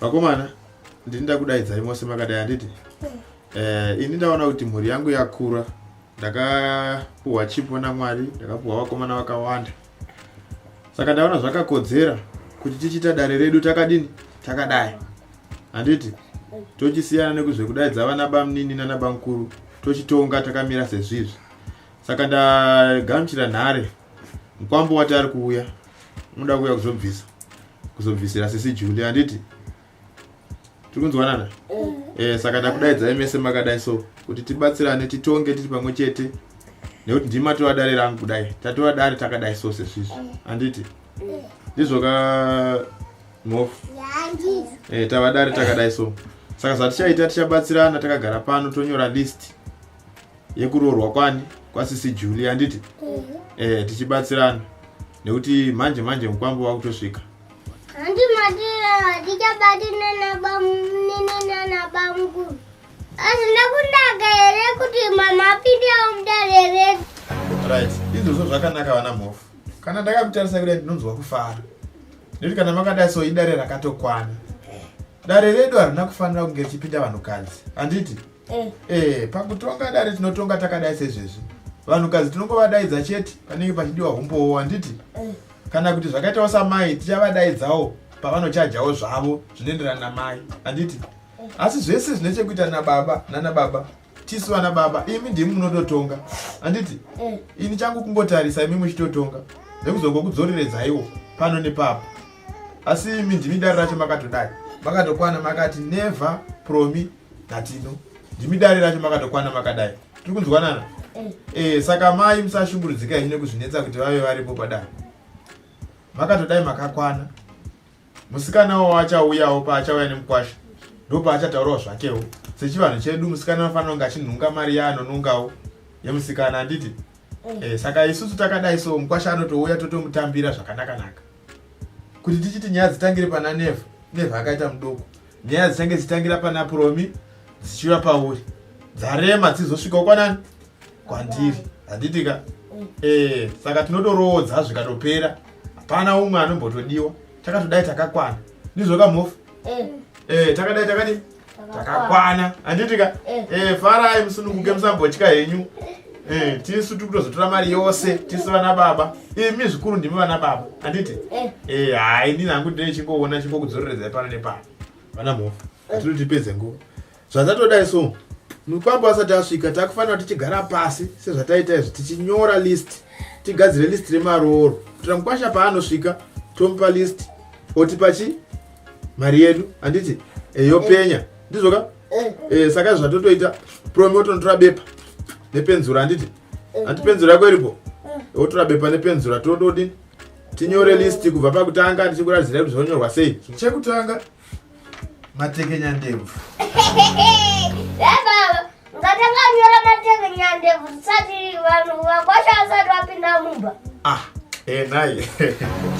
vakomana ndini ndakudaidzai mose makadai handiti eh, ini ndaona kuti mhuri yangu yakura ndakapuhwa chipo namwari ndakapuhwa vakomana vakawanda saka ndaona zvakakodzera kuti tichiita dare redu takadini takadai handiti tochisiyana nekuzvekudaidza vana bamnini nana bamkuru tochitonga takamira sezvizvi saka ndagamuchira nhare mukwambo wati ari kuuya unoda kuuya kuzobvisa kuzobvisira sisi juli handiti tiri kunzwanana e, saka ndakudaidzai mese makadai so kuti tibatsirane titonge tiri pamwe chete nekuti ndimi atova dare rangu kudai tatova dare takadai so sesvizvi handiti ndizvoka mhofu e, eh, tava dare takadai so saka zvatichaita tichabatsirana takagara pano tonyora list yekuroorwa kwani kwasisi juli handiti eh tichibatsirana nekuti manje manje mukwambo wakutosvika handi matira hatichabati nanabamnenanabamku asi ndakunaka here kuti mama apindewo mudare redu right izvozvo zvakanaka vana mhofu kana ndakamutarisa kudai ndinonzwa kufara nekuti kana makadai so idare rakatokwana dare redu harina kufanira kunge richipinda vanhukadzi handiti Eh. eh, pakutonga dare tinotonga takadai sezvezvi vanhukadzi tinongovadaidza chete panenge pachidiwa humbowo handiti eh. kana kuti zvakaitawo samai tichavadaidzawo pavanochajawo zvavo zvinoenderana namai handiti eh. asi zvese zvine chekuita nababa nana baba tisu vana baba imi ndimi munototonga handiti eh. ini changu kungotarisa imi muchitotonga nekuzongokudzoreredzayiwo pano nepapo asi imi ndimi dare racho makatodai makatokwana makati never promi Katino, ndimi dare racho makatokwana makadai. Tiri kunzwanana? Eh. eh, saka mai musashungurudzika henyu nekuzvinetsa kuti vave varipo padare. Makatodai makakwana. Musikana wavo achauyawo paachauya nemukwasha. Ndopaachataurawo zvakewo. Sechivanhu chedu musikana anofanira kunge achinhunga mari yaanonungawo yemusikana handiti? Eh. eh, saka isusu takadai so mukwasha anotouya totomutambira zvakanaka naka. Kuti tichiti nyaya dzitangire pana Neva, Neva akaita mudoko. nyaya dzichange dzichitangira pana puromi dzichiuya pauri dzarema dzizosvikawo kwanani kwandiri handitika mm. eh, saka tinotoroodza zvikatopera hapana umwe anombotodiwa takatodai takakwana ndizvoka mhofu eh. eh, takadai takadi takakwana handitika farai musununguke musambotya henyu Eh, tisu tiri kutozotora mari yose tisu vana baba imi eh, zvikuru ndimi vana baba handiti eh. eh, hai ndini hangu ndine chingoona chingokudzoreredza pano nepano vana mhofu atiri tipedze nguva zvazatodai so mukwambo asati asvika takufanira kuti tichigara pasi sezvataita izvi tichinyora list tigadzire list remarooro kuitira mukwasha paanosvika tomupa list otipa chi mari yedu handiti yopenya ndizvoka eh. eh, saka zvatotoita promi otonotora bepa nepenzura handiti eh. handi penzura yako iripo otora bepa nepenzura tododini tinyore listi kubva pakutanga tichikuradzira kuti zvonyorwa sei chekutanga matekenya ndebvu ah, eh,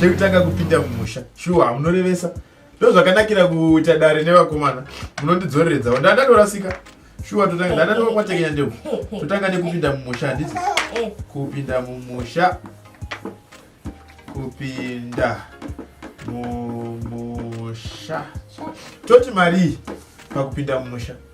chekutanga kupinda mumusha shuwa munorevesa ndozvakanakira kuita dare nevakomana munondidzoreredza wanda ndatorasika shuwa totanga ndatanga kwatekenya ndeu totanga nekupinda mumusha handiti kupinda mumusha kupinda mumusha toti marii pakupinda mumusha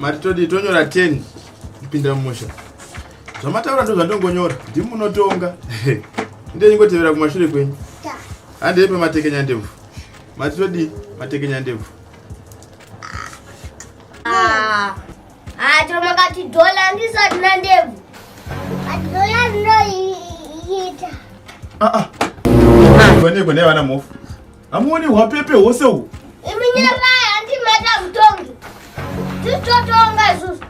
mati todi tonyora 10 kupinda mumusha zvamataura ndo zvandongonyora ndimi munotonga ndenyingotevera kumashure kwenyu handei pematekenya ndebvu mati todi matekenya ndebvu ah, ah, tomakati dhola ndisati nandebvu dhola ndinoiita ah, vanekwe nevana mofu Hamuoni hwapepe hwose uhu? Imi nyarai hanti mata mutongi. Titotonga isusu.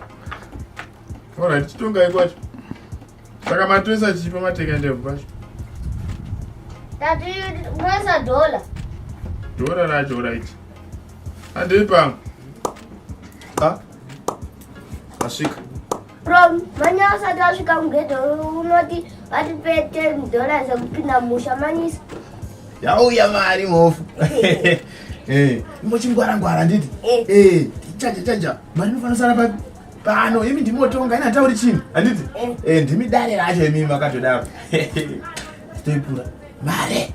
Alright, titongai kwacho. Saka matoisa chipa mateka ndebvu kwacho. Tati mwesa dola. Dola racho right. Andei pamwe. Ah. Asvika. From manya asati asvika mugedhe unoti vatipe ten dollars ekupinda musha manyisa. Yauya mari mhofu. Eh, imbochingwara ngwara nditi. Eh, eh chaja chaja mari inofanira sara papi? Pano imi ndimotonga ina tauri chini? Handiti? Eh, eh ndimi dare racho imi makatodaro. Toipura. Mare.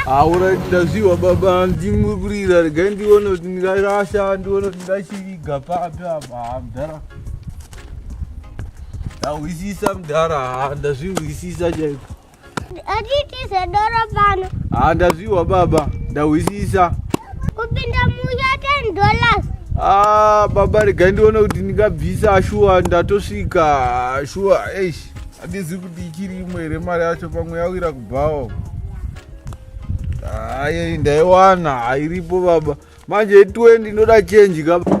aura ndaziwa baba ndimwe kurira regai ndione kuti ndingarasha ndione kuti ndachiriga papi apa mdara ndahwisisa mdara ndazvihwisisa chaiko Atitize doro pano. Ah, ndaziwa baba, ndahwisisa. Kupinda musha 10 dollars. Ah, baba regai ndione kuti ndingabvisa shuwa ndatosvika shuwa eish handizivi kuti ichiri imwe here mari yacho pamwe yawira kubhawo hayi ndaiwana hairipo baba manje 20 ndoda chenji kaba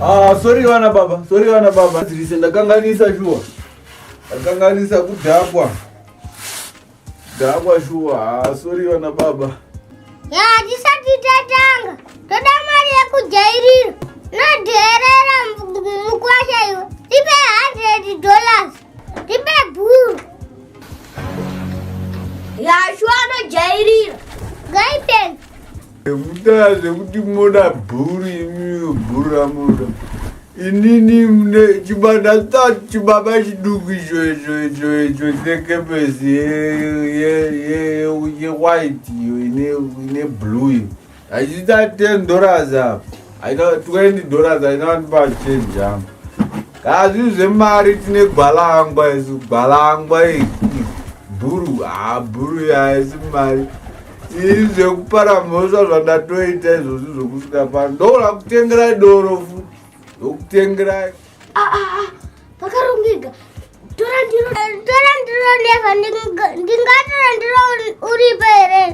Ah, sorry vana baba, sorry vana baba. Dzirise ndakanganisa shuwa. Ndakanganisa kudhakwa. Dhakwa shuwa. Ah, sorry vana baba. Ya, tisati tatanga. Toda mari yekujairira. Nodherera mukwasha iwe. Tipe 100 dollars. Tipe bhuru. Ya, shuwa anojairira. Guidance. Nekuda zvekuti moda bhuru imi bhuru ramoda inini mune chibanda tati chibaba chiduku icho icho icho icho chekepesi yewhite iyo ine blue iyo hachiita ten dollars apa haina twenty dollars haina vandipa change yangu hazvinhu zvemari tine gwalangwa isu gwalangwa bhuru ha bhuru yaisi mari Ii zvekupara mhosva zvandatoita izvozvi zvokusvika pano ndoona kutengerai doro fu ndokutengerai Ah, ah, ah, pakarongeka tora ndiro tora ndiro neva ndinga- ndingatora ndiro uri- uripo here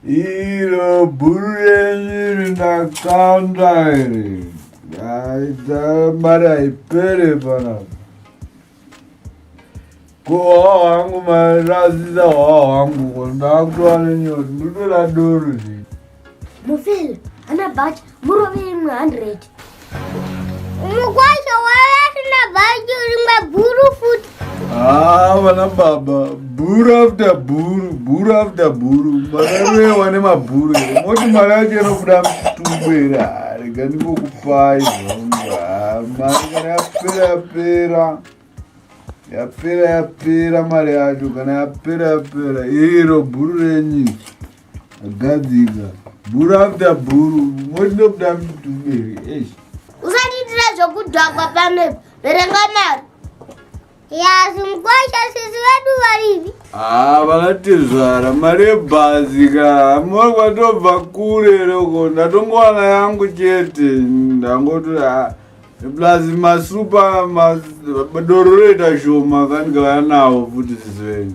iro bhuru renyu iri ndakanda iri aita mari haipere panapa kuhwawa hangu mairasisa hwawa hangu ko ndakutoa nenyoti nditoda doro zii mufeli ana bhachi murove imwe hundred mukwasha wavasina bhachi rimwe guru futi haa ah, vana baba bhuru after bhuru bhuru after bhuru makaroewa nemabhuru ere moti mari yacho inobuda muchitumbu ere rega ndingokupai mari kana yapera yapera yapera yapera mari yacho kana yapera yapera iro bhuru renyu agadzika bhuru after bhuru moti ndobuda muchitumbu ere esh usatiitira zvokudhakwa pamhepo verenga mari Yes, mkwasha sisi wedu varivi. Ah, vakatizvara mari yebhazi ka mori kwatobva kure loko ndatongowana yangu chete ndangoti ah, plus masupa madoro roita shoma kandikauya nawo futi sisi venyu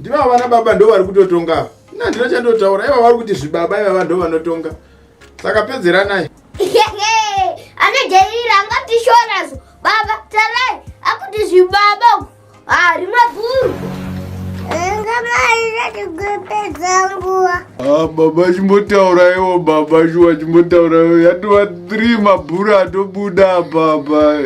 Ndivo vana baba ndo vari kutotonga ava. Ina handina chandotaura iva vari kuti zvibaba ivava ndo vanotonga. Saka pedzeranai. Anojairira angatishora zvo. Baba tarai akuti zvibaba uku. Ah, rimwe bhuru. Ah, baba chimbotauraiwo baba shuwa chimbotauraiwo yatova 3 mabhuru atobuda baba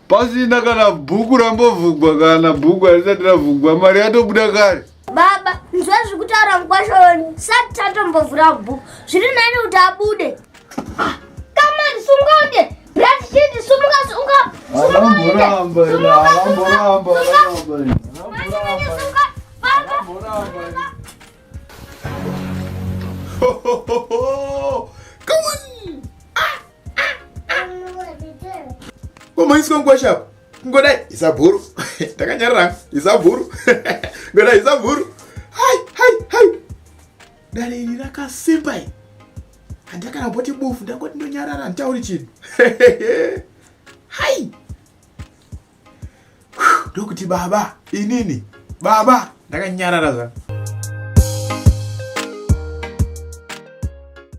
pasina kana bhuku rambovhugwa kana bhuku harisati ravhugwa mari yatobuda kare baba nzwa zviri kutaura mukwasha wenu sati tatombovhura bhuku zviri nani kuti abude kamani sungaunde brati chiti sumuka sunga alamboramba ina alamboramba Come on! komaiswa nguva shapo ngodai isabhuru takanyarira isabhuru ngodai isabhuru hai hai hai dare iri rakasimba i handakana boti bufu ndangoti ndonyarara handitauri chinhu hai ndokuti baba inini baba ndakanyarara zvangu